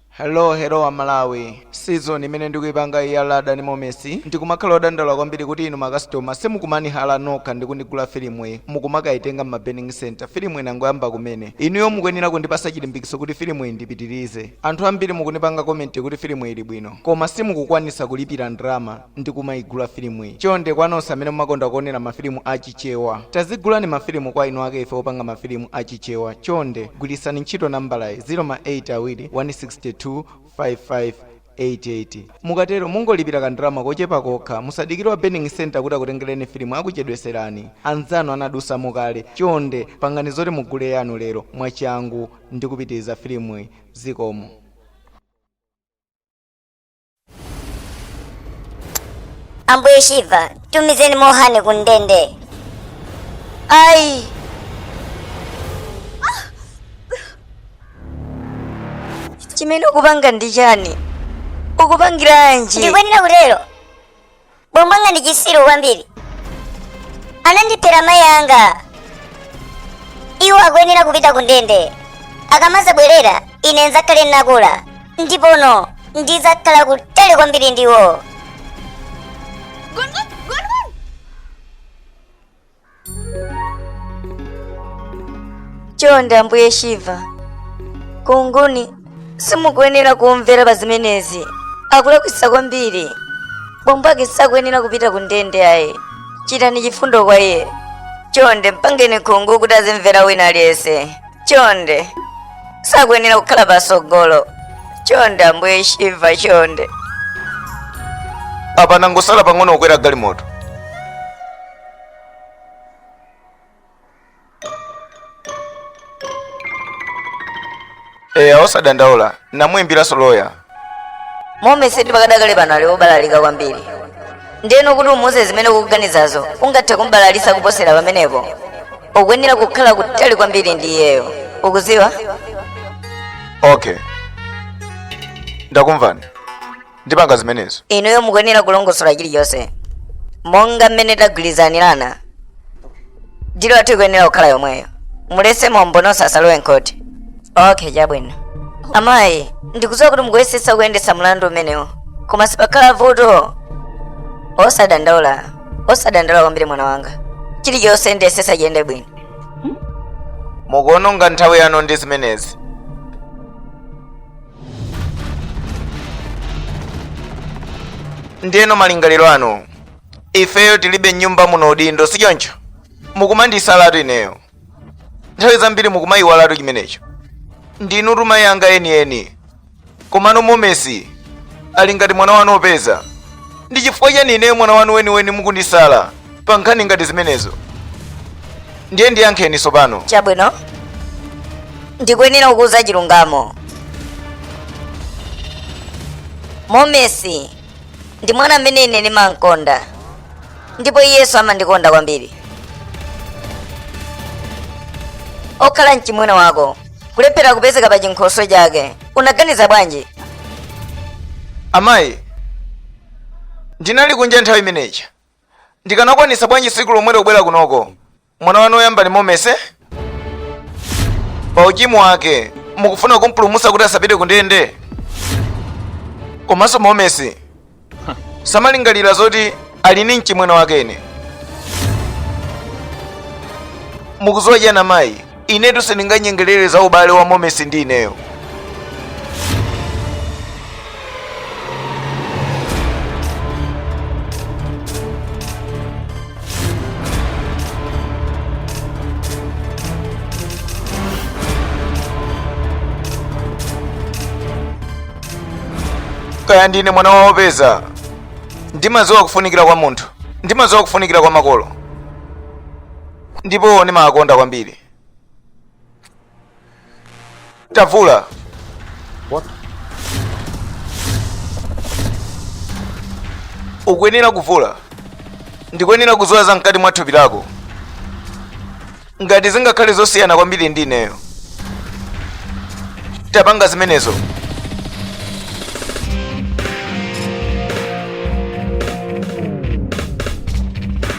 hello hello a Malawi season imene ndikuipanga iya Radha ndi Momesi ndikumakhala odandaula kwambiri kuti inu makasitoma simukumanihala nokha ndi kunigula filimuyi mukumakaitenga m'ma burning center filimu inangoyamba kumene inuyo mukuyenera kundipasa chilimbikiso kuti filimuyi ndipitirize anthu ambiri mukunipanga komenti kuti filimuyi ili bwino koma simukukwanisa kulipira ndrama ndikumaigula filimuyi chonde kwa nonse amene mumakonda kuonera mafilimu a chichewa tazigulani mafilimu kwa eni ake ife opanga mafilimu a chichewa chonde gwirisani ntchito nambalayi 0 ma 8 awiri 162 55 88 mukatero mungolipira kandalama kochepa kokha musadikire wa burning center kuti akutengereni filimu akuchedweserani anzanu anadusamo kale chonde pangani zoti mugule yanu lero mwachangu ndi kupitiriza filimuyi zikomo ambuye shiva tumizeni Mohan ku ndende ayi chimene ukupanga ndi chani ukupangiranji ndikuyenera kutero bambo anga ndi chisiru kwambiri anandiphera mayi anga iwo akuyenera kupita ku ndende akamazabwerera ine nzakhale nnakula ndipono ndizakhala kutali kwambiri ndiwo chonde ambuye shiva Gungun simukuyenera kumvera pa zimenezi akulakwisa kwambiri bambo ake sakuyenera kupita ku ndende ayi chitani chifundo kwa iye chonde mpangeni Gungun kuti azimvera wina aliyense chonde sakuyenera kukhala pasogolo chonde ambuye shiva chonde apa angosala pang'ono kukwera galimoto eya osadandaula namuyimbiranso loya Momesi pakadakale pano ali wobalalika kwambiri ndeno kuti umuuze zimene ukuganizazo ungathe kumbalalisa kuposera pamenepo ukuyenera kukhala kutali kwambiri ndi iyeyo ukuziwa okay ndakumvani ndipanga zimenezo inuyo mukuyenera kulongosola chilichonse monga mmene tagwirizanirana dili yathu ikuyenera kukhala yomweyo mulese mboni zonse zisalowe m'khoti okay chabwino amayi ndikudziwa kuti mukuyesetsa kuyendetsa mlandu umenewu koma sipakhala vuto osadandaula osadandaula kwambiri mwana wanga chilichonse ndiyesesa chiyende bwino mukuononga nthawi yanu ndi zimenezi ndiyeno malingaliro anu ifeyo tilibe nyumba muno udindo si choncho mukumandisalatu ineyo nthawi zambiri mukumayiwalatu chimenecho ndinutu mayi anga enieni komano momesi ali ngati mwana wanu opeza ndi chifukwa chani ineyo mwana wanu weniweni mukundisala pa nkhani ngati zimenezo ndiye ndiyankheni tsopano chabwino ndikuyenera kukuuza chilungamo momesi ndi mwana amene ine ndimamkonda ndipo iyenso amandikonda kwambiri pokhala mchimwene wako kulephera kupezeka pa chinkhoswe chake unaganiza bwanji amayi ndinali kunja nthawi imeneja ndikanakwanisa bwanji siku lomwelo kubwera kunoko mwana wanu oyamba ndi momesi pa uchimu wake mukufuna kumpulumusa kuti asapite kundende komanso momesi samalingalira zoti ali ni mchimwene wake ine mukuziwa chiyani amayi inetu sindinganyengerere za ubale wa momesi ndi ineyo kaya ndine mwana wa opeza ndimadziwa kufunikira kwa munthu ndimadziwa kufunikira kwa makolo ndipo ndimawakonda kwambiri tavula What? ukuyenera kuvula ndikuyenera kuziwa za mkati mwa thupi lako ngati zingakhale zosiyana kwambiri ndi ineyo tapanga zimenezo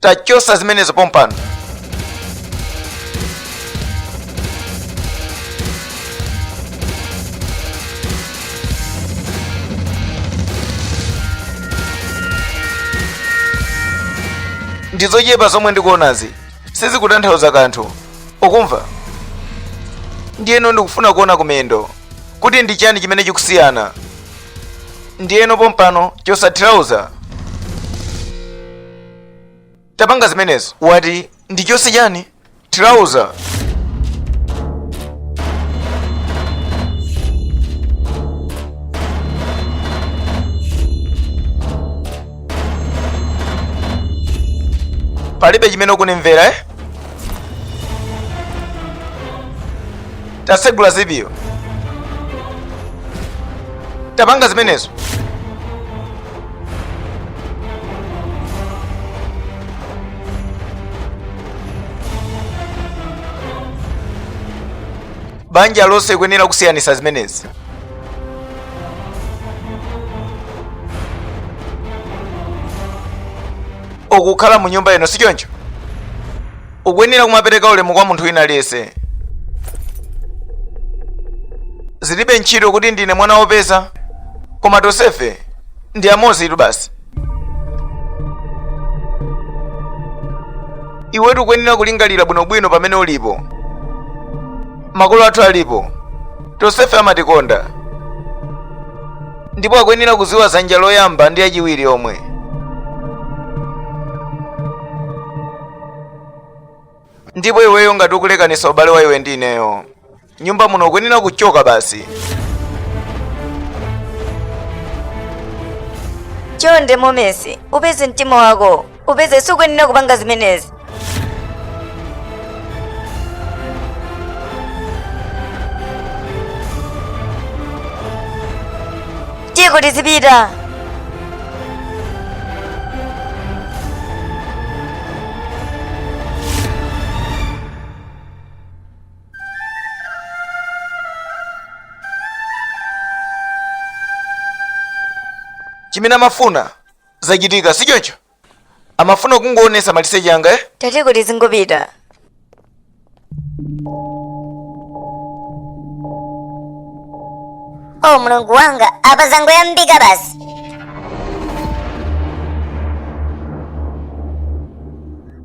tachosa zimenezo pompano ndizochepa zomwe ndikuonazi sizikutanthauza kanthu ukumva ndiyeno ndikufuna kuona kumendo kuti ndi chani chimene chikusiyana ndiyeno pompano chosa trouser tapanga zimenezo wati ndi chose chani trouser palibe chimene ukundimvera eh? tatsegula zipiyo tapanga zimenezo banja lonse ukuyenera kusiyanitsa zimenezi ukukhala mu nyumba ino si choncho ukuyenera kumapereka ulemu kwa munthu wina aliyense zilibe ntchito kuti ndine mwana wopeza koma tonsefe ndi amodzi tu basi iwetu ukuyenera kulingalira bwinobwino pamene ulipo makolo athu alipo tonsefe amatikonda ndipo akuyenera kudziwa dzanja loyamba ndi lachiwiri omwe ndipo iweyo ngati ukulekanitsa ubale wa iwe ndi ineyo nyumba muno ukuyenera kuchoka basi chonde Momesi upeze mtima wako upeze sukuyenera kupanga zimenezi tiyeko tizipita zimene amafuna zachitika si choncho amafuna kungoonetsa maliseche anga eh? tate tiyeko tizingopita oh mulungu wanga apa zangoyambika basi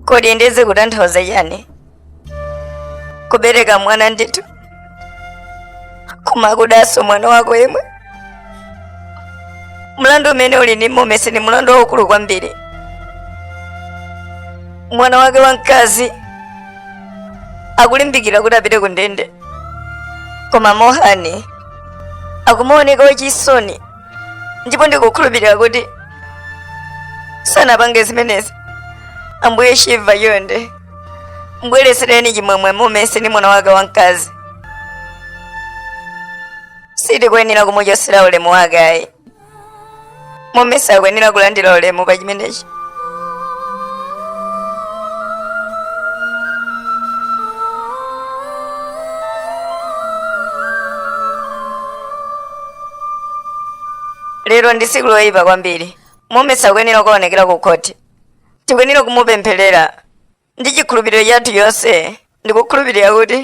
kodi nde zikutanthauza chani kubereka mwana ndithu kumakudanso mwana wako yemwe mlandu umene uli ndi momesi ni mlandu waukulu kwambiri mwana wake wamkazi akulimbikira kuti apite ku ndende koma mohani akumaoneka wachisoni ndipo ndikukhulupirira kuti sanapange zimenezi ambuye shiva chonde mbweretsereninso chimwemwe mumesi ndi mwana wake wamkazi sitikuyenera kumuchotsera ulemu wake ayi mumesi akuyenera kulandira ulemu pa chimenechi lero ndi tsiku loyipa kwambiri mumesi akuyenera kukaonekera ku khoti tikuyenera kumupempherera ndi chikhulupiriro chathu chonse ndikukhulupirira kuti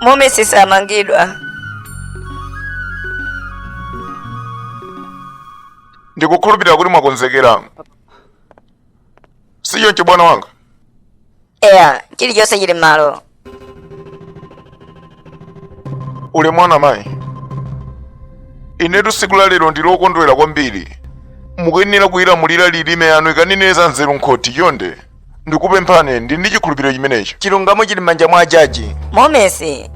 momesi sakumangidwa ndikukhulupirira kuti mwakonzekera sichoncho bwana wanga eya chilichonse chili m'malo uli mwana mayi inetu tsiku la lero ndi lokondwera kwambiri mukuyenera kulilamulira lilime lanu likanene za nzeru nkhoti chonde ndikupemphani ndi ndi chikhulupiriro chimenecho chilungamo chili m'manja mwa ajaji momesi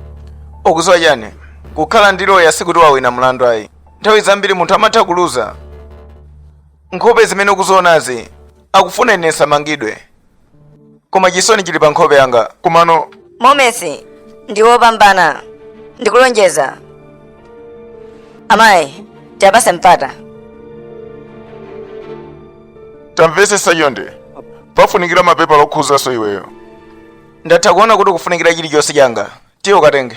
ukuziwa chani kukhala ndi loya sikuti wawina mlandu ayi nthawi zambiri munthu amatha kuluza nkhope zimene ukuzionazi akufuna ine nsamangidwe koma chisoni chili pa nkhope yanga komano momesi ndi wopambana ndikulonjeza amayi tiyapase mpata tamvesesa chonde pafunikira mapepala okhudzanso iweyo ndatha kuona kuti kufunikira chilichonse changa tiye ukatenge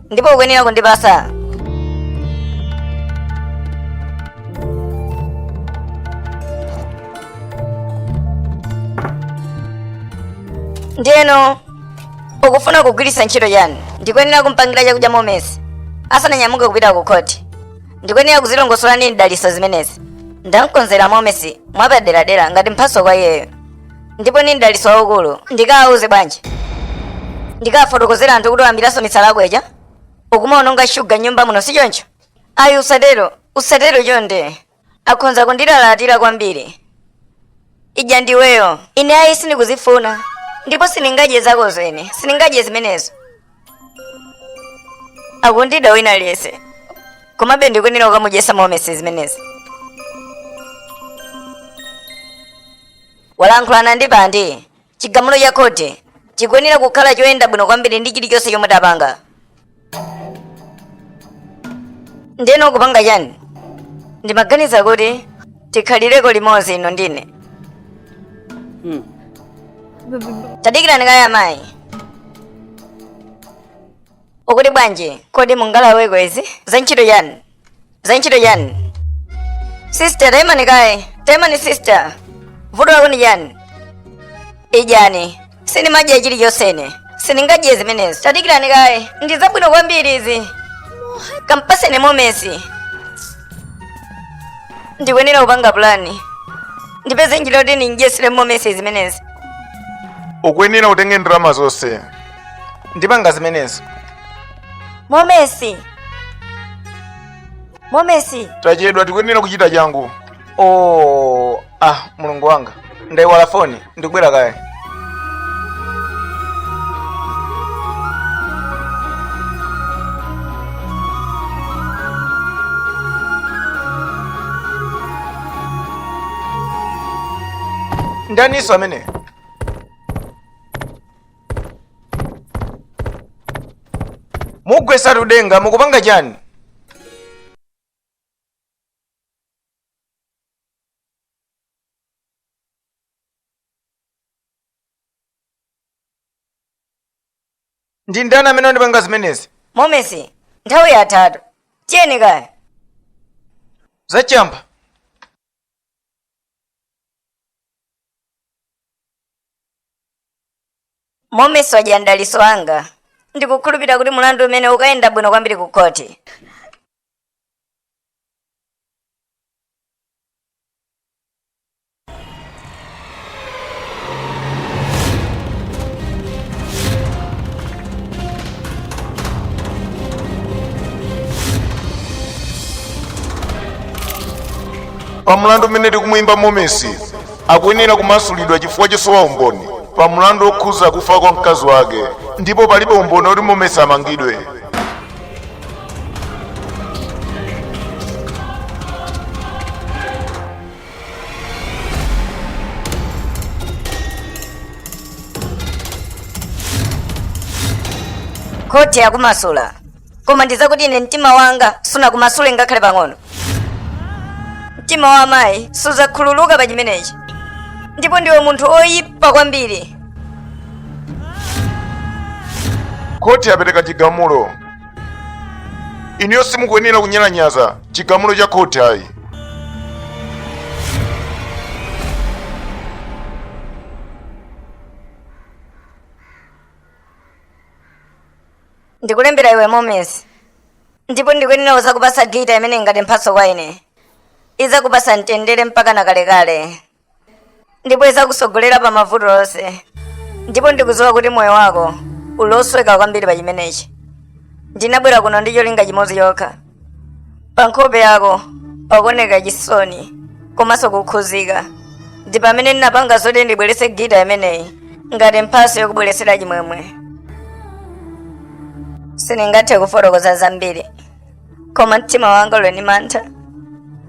ndipo ukuyenera kundipasa ndiye ukufuna kugwiritsa ntchito chani ndikuyenera kumpangira chakudya momesi asananyamuke kupita ku khoti ndikuyenera kuzilongosola ndi mdalitso zimenezi ndamkonzera momesi mwapaderadera ngati mphatso kwa iyeyo ndipo ni mdalitso waukulu ndikawauza bwanji ndikawafotokozera anthu kuti wayambiranso misala yako ija ukumaononga shuga mnyumba muno si choncho ayi usatero usatero chonde akhonza kundilalatira kwambiri idya ndiweyo ine ayi sindikuzifuna ndipo sindingadye zako zene sindingadye zimenezo akundida wina aliyense komabe ndikuyenera kumudyesa momesi zimenezi Walankhulana ndi Bande, Chigamulo cha khoti chikuyenera kukhala choyenda bwino kwambiri ndi chilichonse chomwe tapanga. Ndeno kupanga chani? Ndimaganiza kuti tikhalireko limodzi inu ndi ine. Tadikirani kaye amayi. Akuti bwanji? Kodi mungalaweko izi? Za ntchito chani? za ntchito chani sister taimani kaye taimani sister vuto lako ndi chani idyani sindimadya chilichonse ine sindingadye zimenezi tadikirani kaye ndi zabwino kwambiri izi kampaseni momesi ndikuyenera kupanga pulani ndipeze njira kuti ndimdyesere momesi zimenezi ukuyenera ukatenge ndalama zonse ndipanga zimenezo momesi momesi tachedwa tikuyenera kuchita changu oh, ah mulungu wanga ndaiwala foni ndikubwera kaye ndaninso amene mugwesa tudenga mukupanga chani ndi ndani amene wandipanga zimenezi momesi nthawi yathatu tiyeni kaya zachamba momesi ajaji mdaliso wanga ndikukhulupirira kuti mulandu umene ukayenda bwino kwambiri ku khoti pa mlandu umene tikumuyimba momesi akuyenera kumasulidwa chifukwa chosowa umboni pa mlandu wokhuza kufa kwa mkazi wake ndipo palibe umboni woti momesi amangidwe khoti yakumasula koma ndizakuti ine mtima wanga sunakumasule ngakhale pang'ono mtima wa amayi suzakhululuka pa chimenechi ndipo ndiwe munthu oyipa kwambiri khoti yapereka chigamulo inuyo simukuyenera kunyalanyaza chigamulo cha khoti ayi ndikulembera iwe momesi ndipo ndikuyenera kuzakupasa gita imene ngati mphatso kwa ine izakupasa mtendere mpaka na kalekale ndipo izakusogolera pa mavuto onse ndipo ndikuziwa kuti moyo wako uli osweka kwambiri pa chimenechi ndinabwera kuno ndi cholinga chimodzi chokha pa nkhope yako pakuoneka chisoni komanso kukhuzika ndi pamene ndinapanga zoti ndibweretse gita imeneyi ngati mphatso yokubweretsera chimwemwe sindingathe kufotokoza zambiri koma mtima wanga uli ndi mantha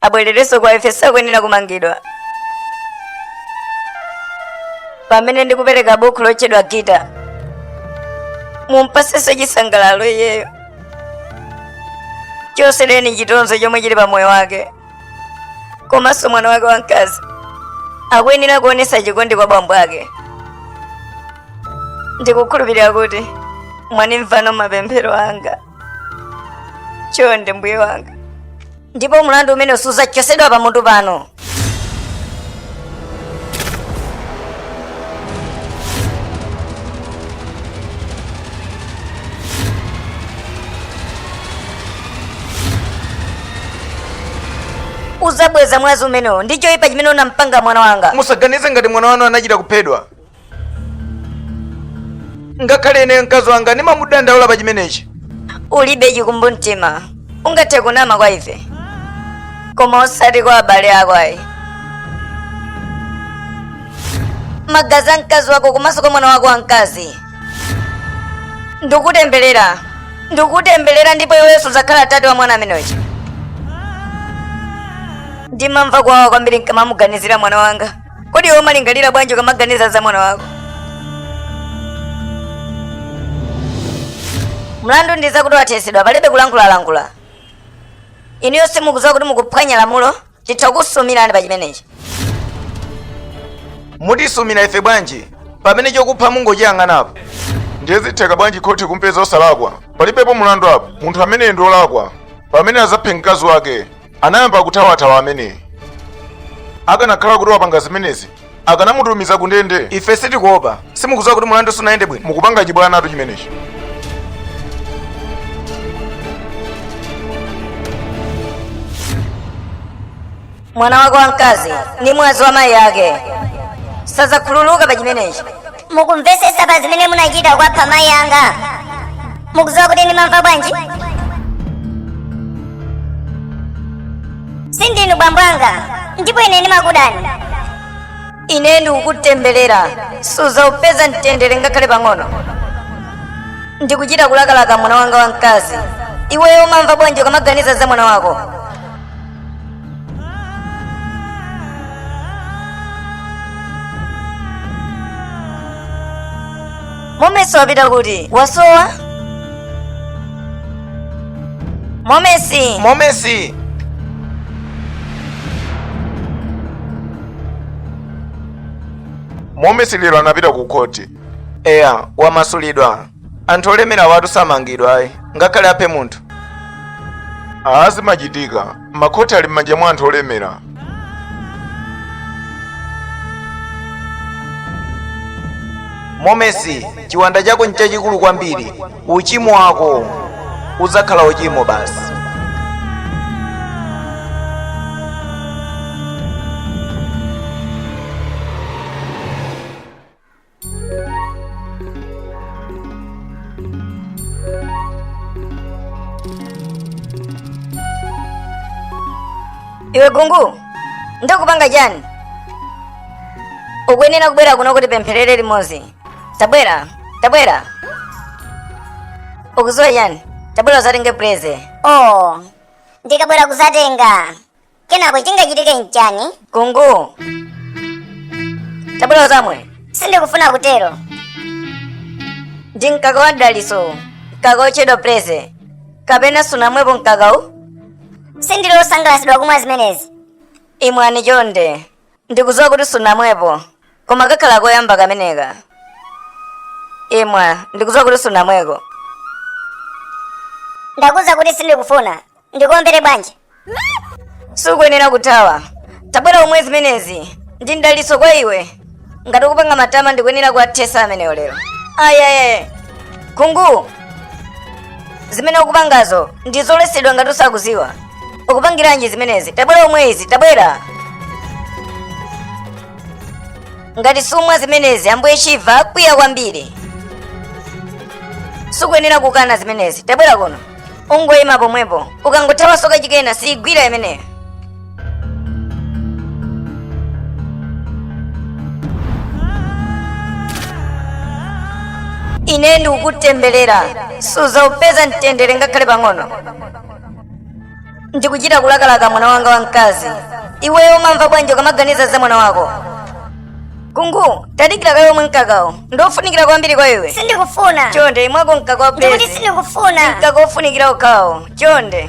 abwererenso kwa ife sakuyenera kumangidwa pamene ndikupereka bukhu lotchedwa gita mumpasenso chisangalalo iyeyo chotsereni chitonzo chomwe chili pa moyo wake komanso mwana wake wamkazi akuyenera kuonetsa chikondi kwa bambo ake ndikukhulupirira kuti mwandimvano mapemphero anga chonde mbuye wanga ndipo mlandu umene sudzachotsedwa pamutu pano udzabweza mwazi umenewo ndi choyipa chimene unampanga mwana wanga musaganize ngati mwana wanu anachita kuphedwa ngakhale ineyo mkazi wanga ndimamudandaula pa chimenechi ulibe chikumbumtima ungathe kunama kwa ife koma osati kwa abale ako ayi magazi a mkazi wako komanso kwa mwana wako wamkazi ndikutemberera ndikutemberera ndipo iwenso udzakhala tate wa mwana ameneyo ndimamva kuwawa kwambiri nkamamuganizira mwana wanga Kodi iwe umalingalira bwanji ukamaganiza za mwana wako? Mlandu ndi zakuti wathesedwa palibe kulankhulalankhula. Inuyo simukudziwa kuti mukuphwanya lamulo, titha kukusumirani pa chimenechi. mutisumira ife bwanji pamene chokupha mungochiyang'anako ndiye zitheka bwanji khoti kumpeza osalakwa palibepo mulandu apo munthu ameneyo ndi olakwa pamene adzaphe mkazi wake anayamba kuthawathawa ameneyi akanakhala kuti wapanga zimenezi akanamutumiza kundende ife sitikuopa simukuziwa kuti mulandu sunayende bwino mukupanga chibwanatu chimenechi mwana wake wamkazi ndi mwazi wa mayi ake sadzakhululuka pa chimenechi mukumvetsetsa pa zimene munachita kuwapha mayi anga mukudziwa kuti ndimamva bwanji sindinu bambo anga ndipo ine ndimakudani ine ndikukutemberera suzaupeza mtendere ngakhale pang'ono ndikuchita kulakalaka mwana wanga wamkazi iweyo umamva bwanji ukamaganiza za mwana wako momesi wapita kuti wasowa momesi momesi momesi lero anapita ku khoti eya wamasulidwa anthu olemerawa samangidwa ayi ngakhale aphe munthu aa zimachitika makhoti ali m'manja mwa anthu olemera momesi chiwanda chako nchachikulu kwambiri uchimo wako udzakhala uchimo basi iwe kungu ndakupanga chani ukuyenera kubwera kuno kuti tipempherere limodzi tabwera tabwera ukuziwa chani tabwera uzatenge preze oh ndikabwera kuzatenga kenako chingachitike nchani kungu tabwera uzamwe sindikufuna kutero ndi mkaka wa mdaliso mkaka wotchedwa preze kapena sunamwepo mkakawu sindili osangalatsidwa kumwa zimenezi imwani chonde Ndikudziwa kuti sunamwepo, koma kakhala koyamba kameneka. Imwa, ndikudziwa kuti sunamweko. Ndakuuza kuti sindikufuna. Ndikuombere bwanji? Sukuyenera kuthawa. Tabwera umwe zimenezi. Ndi mdalitso kwa iwe. Ngati ukupanga matama ndikuyenera kuwathesa amenewa lero. Ayi ayi. Kungu, zimene ukupangazo ndi zoletsedwa ngati usakuziwa ukupangiranji zimenezi tabwera umwe izi tabwera ngati sumwa zimenezi ambuye shiva akwiya kwambiri sukuyenera kukana zimenezi tabwera kuno ungoyima pomwepo ukangothawaso kachikena siigwira imeneyo ine ndikukutemberera suzaupeza mtendere ngakhale pang'ono ndikuchita kulakalaka mwana wanga wamkazi iweyo umamva bwanji ukamaganiza za mwana wako kungu tadikira kaye umwe mkakawu ndiofunikira kwambiri kwa iwe sindikufuna chonde imwako mkaka wa ndikuti bezi sindikufuna mkaka ofunikira mkakawo chonde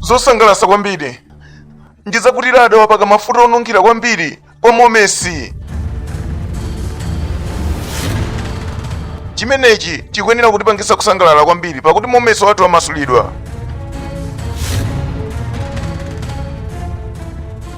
zosangalatsa kwambiri ndi zakuti radha wapaka mafuta onunkhira kwambiri kwa momesi chimenechi chikuyenera kutipangitsa kusangalala kwambiri pakuti momesi wathu wamasulidwa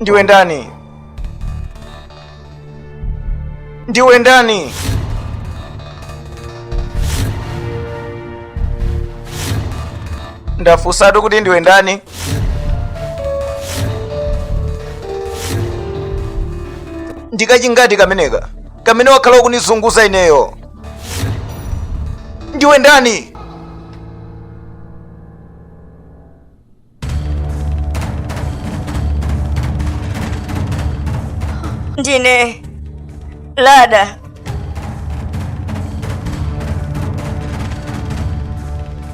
ndiwe ndani ndiwe ndani ndafunsatu kuti ndiwe ndani ndikachingati kameneka kamene wakhala ukundizunguza ineyo ndiwe ndani ndine lada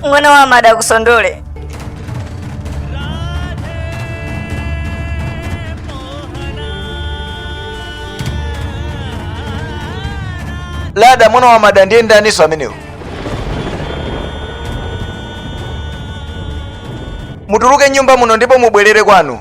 mwana wa mada kusondole lada mwana wa mada ndiye ndaniso amenewo mutuluke mnyumba muno ndipo mubwerere kwanu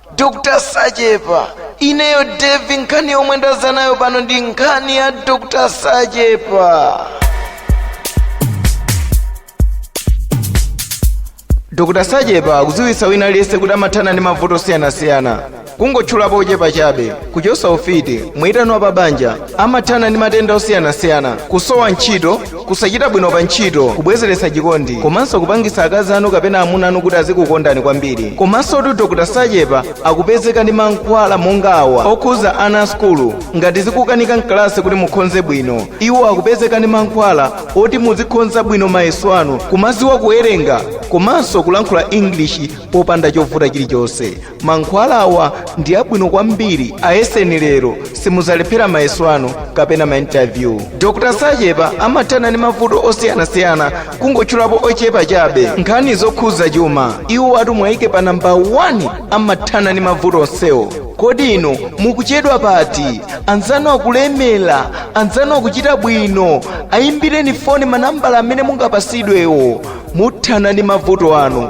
dr sachepa ineyo devi nkhani yomwe ndaza nayo pano ndi nkhani ya dr sachepa dr sachepa akudziwitsa wina aliyense kuti amathana ndi mavuto osiyanasiyana kungotchulapo ochepa chabe kuchotsa ufiti mwitano wa pabanja amathana ndi matenda osiyanasiyana kusowa ntchito kusachita bwino pa ntchito kubwezeretsa chikondi komanso kupangitsa akazi anu kapena amuna anu kuti azikukondani kwambiri komanso kuti dr sachepa akupezeka ndi mankhwala monga awa okhuza ana a sukulu ngati zikukanika mkalasi kuti mukhonze bwino iwo akupezeka ndi mankhwala oti muzikhonza bwino mayeso anu kumaziwa kuwerenga komanso kulankhula english popanda chovuta chilichonse Mankhwalawa ndi abwino kwambiri, ayeseni lero, simuzalephera mayeso anu kapena ma interview. Dr. Sachepa amathana ndi mavuto osiyanasiyana kungotchulapo ochepa chabe. Nkhani zokhuza chuma, iwo atumwayike pa namba 1 amathana ndi mavuto onsewo. Kodi inu mukuchedwa pati? Anzanu akulemera, anzanu akuchita bwino, ayimbireni foni manambala amene mungapasidwewo. Muthana ndi mavuto anu.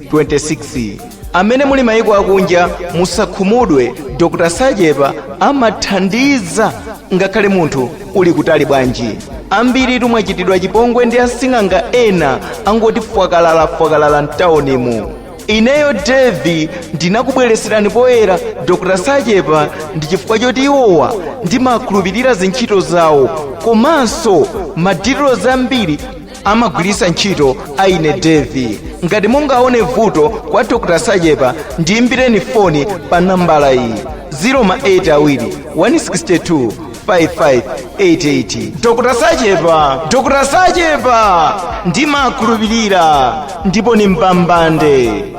amene muli mayiko akunja musakhumudwe dr sachepa amathandiza ngakhale munthu uli kutali bwanji ambiri tumwachitidwa chipongwe ndi asing'anga ena angoti fwakalala fwakalala mtawunimo ineyo devi ndinakubwereserani poyera dr sachepa ndi chifukwa choti iwowa ndimakhulupirira zintchito zawo komanso madilizo ambiri amagwiritsa ntchito ayi ndithu ngati mungaone vuto kwa dr sachepa ndiyimbireni foni pa nambala iyi 08 awiri 162 5588 dr dr sachepa ndimakhulupirira ndipo ni mbambande